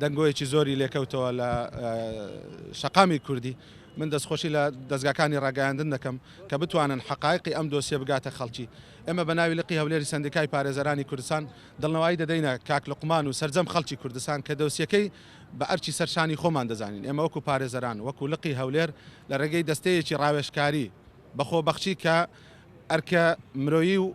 دەنگۆیەکی زۆری لێکەوتەوە لە شەقامی کوردی، من دەستخۆشی لە دەزگاکانی ڕاگەیاندن دەکەم کە بتوانن حەقایقی ئەم دۆسیە بگاتە خەڵکی. ئێمە بە ناوی لقی هەولێری سەندیکای پارێزەرانی کوردستان دڵنەوایی دەدەینە کاک لوقمان و سەرجەم خەڵکی کوردستان کە دۆسیەکەی بە ئەرکی سەر شانی خۆمان دەزانین. ئێمە وەکو پارێزەران وەکو لقی هەولێر لە ڕێگەی دەستەیەکی ڕاوێژکاری بە خۆبەخشی کە ئەرکە مرۆیی و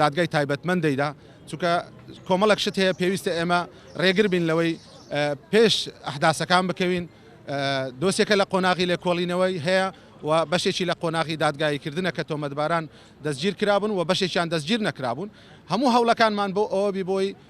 دادگای تایبەتمەندەیدا، چونکە کۆمەڵێک شت هەیە پێویستە ئێمە ڕێگر بین لەوەی پێش ئەحداسەکان بکەوین، دۆسێکە لە قۆناغی لێکۆڵینەوەی هەیە و بەشێکی لە قۆناغی دادگاییکردنە کە تۆمەتباران دەستگیر کرابوون و بەشێکیان دەستگیر نەکرابوون، هەموو هەوڵەکانمان بۆ ئەوەبی بۆی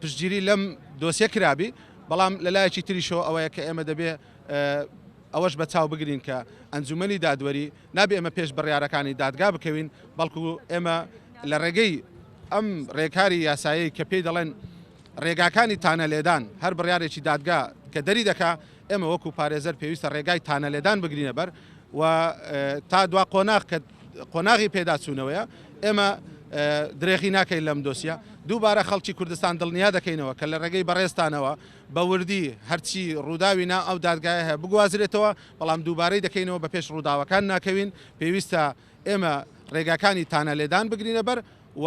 پشتگیری لەم دۆسیە کرابی، بەڵام لە لایەکی تریشەوە ئەوەیە کە ئێمە دەبێ ئەوەش بە چاو بگرین کە ئەنجومەنی دادوەری نابێ ئێمە پێش بڕیارەکانی دادگا بکەوین، بەڵکو ئێمە لە ڕێگەی ئەم ڕێکاری یاسایی کە پێی دەڵێن ڕێگاکانی تانە لێدان هەر بڕیارێکی دادگا کە دەری دەکا ئێمە وەکو پارێزەر پێویستە ڕێگای تانەلێدان بگرینە بەر و تا دوا قۆناغ کە قۆناغی پێداچوونەوەیە ئێمە درێغی ناکەین لەم دۆسیە دووبارە خەڵکی کوردستان دڵنیا دەکەینەوە کە لە ڕێگەی بەڕێستانەوە بە وردی هەرچی ڕووداوی نا ئەو دادگایە هەیە بگوازرێتەوە بەڵام دووبارەی دەکەینەوە بە پێش ڕووداوەکان ناکەوین پێویستە ئێمە ڕێگاکانی تانە لێدان بگرینە بەر و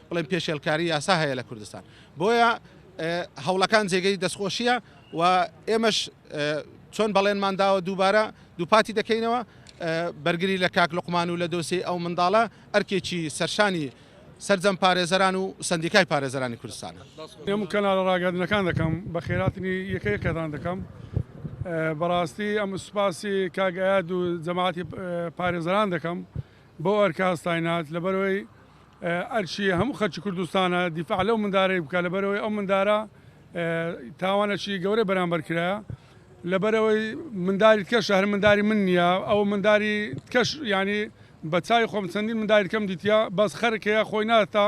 بڵێن پێشێلکاری یاسا هەیە لە کوردستان بۆیە هەوڵەکان جێگەی دەستخۆشیە و ئێمەش چۆن بەڵێنمان داوە دووبارە دووپاتی دەکەینەوە بەرگری لە کاک لقمان و لە دۆسی ئەو منداڵە ئەرکێکی سەرشانی سرجەم پارێزەران و سندیکای پارێزەرانی کوردستان ئەم کەناڵە ڕاگەاندنەکان دەکەم بە خێراتنی یەکەکەتان دەکەم بەڕاستی ئەم سوپاسی کاگایات و جەماعتی پارێزەران دەکەم بۆ ئەرکە هەستاینات لەبەرئەوەی ئەرکی هەموو خەلکی کوردستانە دیفاع لەو مندارەی بکات لەبەرئەوەی ئەو مندارە تاوانەکی گەورەی بەرامبەر کرایە لەبەرئەوەی منداری تکەش هەر منداری من نییە ئەو منداری تکەش یانی بە چاوی خۆم چەندین منداری کەم دیتیە بەس خەرکەیە خۆی ناتا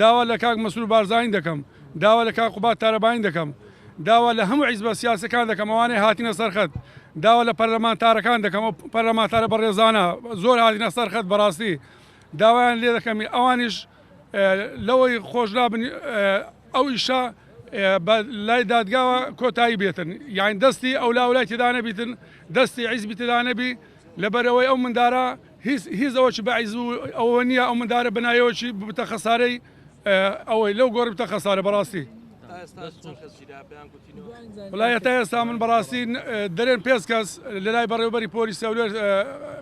داوا لە کاک مەسرور بارزانی دەکەم، داوا لە کاک قوباد تارەبانی دەکەم، داوا لە هەموو حیزبە سیاسیەکان دەکەم ئەوانەی هاتینە سەر خەت، داوا لە پەرلەمانتارەکان دەکەم ئەو پەرلەمانتارە بەڕێزانە زۆر هاتینە سەر خەت بەڕاستی داوایان لێ دەکەم ئەوانیش لەوەی خۆش نابن ئەو ئیشە بە لای دادگاوە کۆتایی بێتن یانی دەستی ئەو لا و لای تێدا نەبیتن دەستی حیزبی تێدا نەبی لەبەر ئەوەی ئەو مندارە هیز هیز ئەوە چ بەعیز بوو ئەوە نیە ئەو مندارە بەنایەوە چی ببتە خەسارەی ئەوەی لەو گۆڕی بتە خەسارە بەڕاستی وڵایە تا ئێستا من بەڕاستی دەرێن پێست کەس لەلای بەڕێوبەری پۆری سەولێر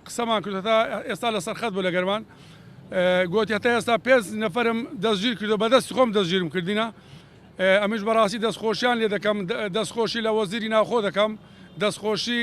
قسەمان کرد تا ئێستا لە سەرخەت بوو لەگەرمان گوتی هەتا ئێستا پێنج نەفرم دەستگیر کردو بەدەست خۆم دەستگیرم کردینە ئەمیش بەڕاستی دەستخۆشیان لێ دەکەم دەستخۆشی لە وەزیری ناوخۆ دەکەم دەستخۆشی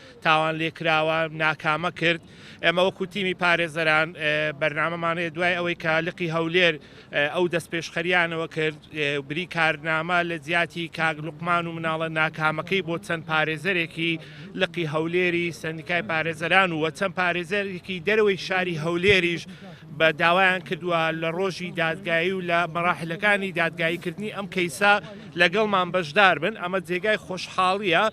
تاوانلێکراوە ناکامە کرد، ئێمە وەکو تیمی پارێزەران بەرنامەمان هەیە دوای ئەوەی کە لقی هەولێر ئەو دەستپێشخەریانەوە کرد بریکارنامە لە جیاتی کاک لوقمان و مناڵە ناکامەکەی بۆ چەند پارێزەرێکی لقی هەولێری سەندیکای پارێزەران و چەند پارێزەرێکی دەرەوەی شاری هەولێریش بە داوایان کردووە لە ڕۆژی دادگایی و لە مەراحلەکانی دادگاییکردنی ئەم کەیسە لەگەڵمان بەشدار بن ئەمە جێگای خۆشحاڵیە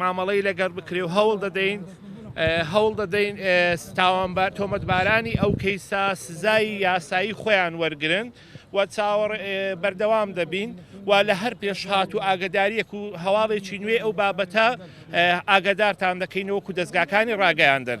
مامەڵەی لەگەڵ بکرێ و هەوڵ دەدەین هەوڵ دەدەین تاوانبار تۆمەتبارانی ئەو کەیسا سزایی یاسایی خۆیان وەرگن و چاوەڕ بەردەوام دەبین و لە هەر پێش هات و ئاگداریەک و هەواڵێکی نوێ ئەو بابەتە ئاگدارتان دەکەینەوەکو دەستگاکانی ڕاگەیاندن.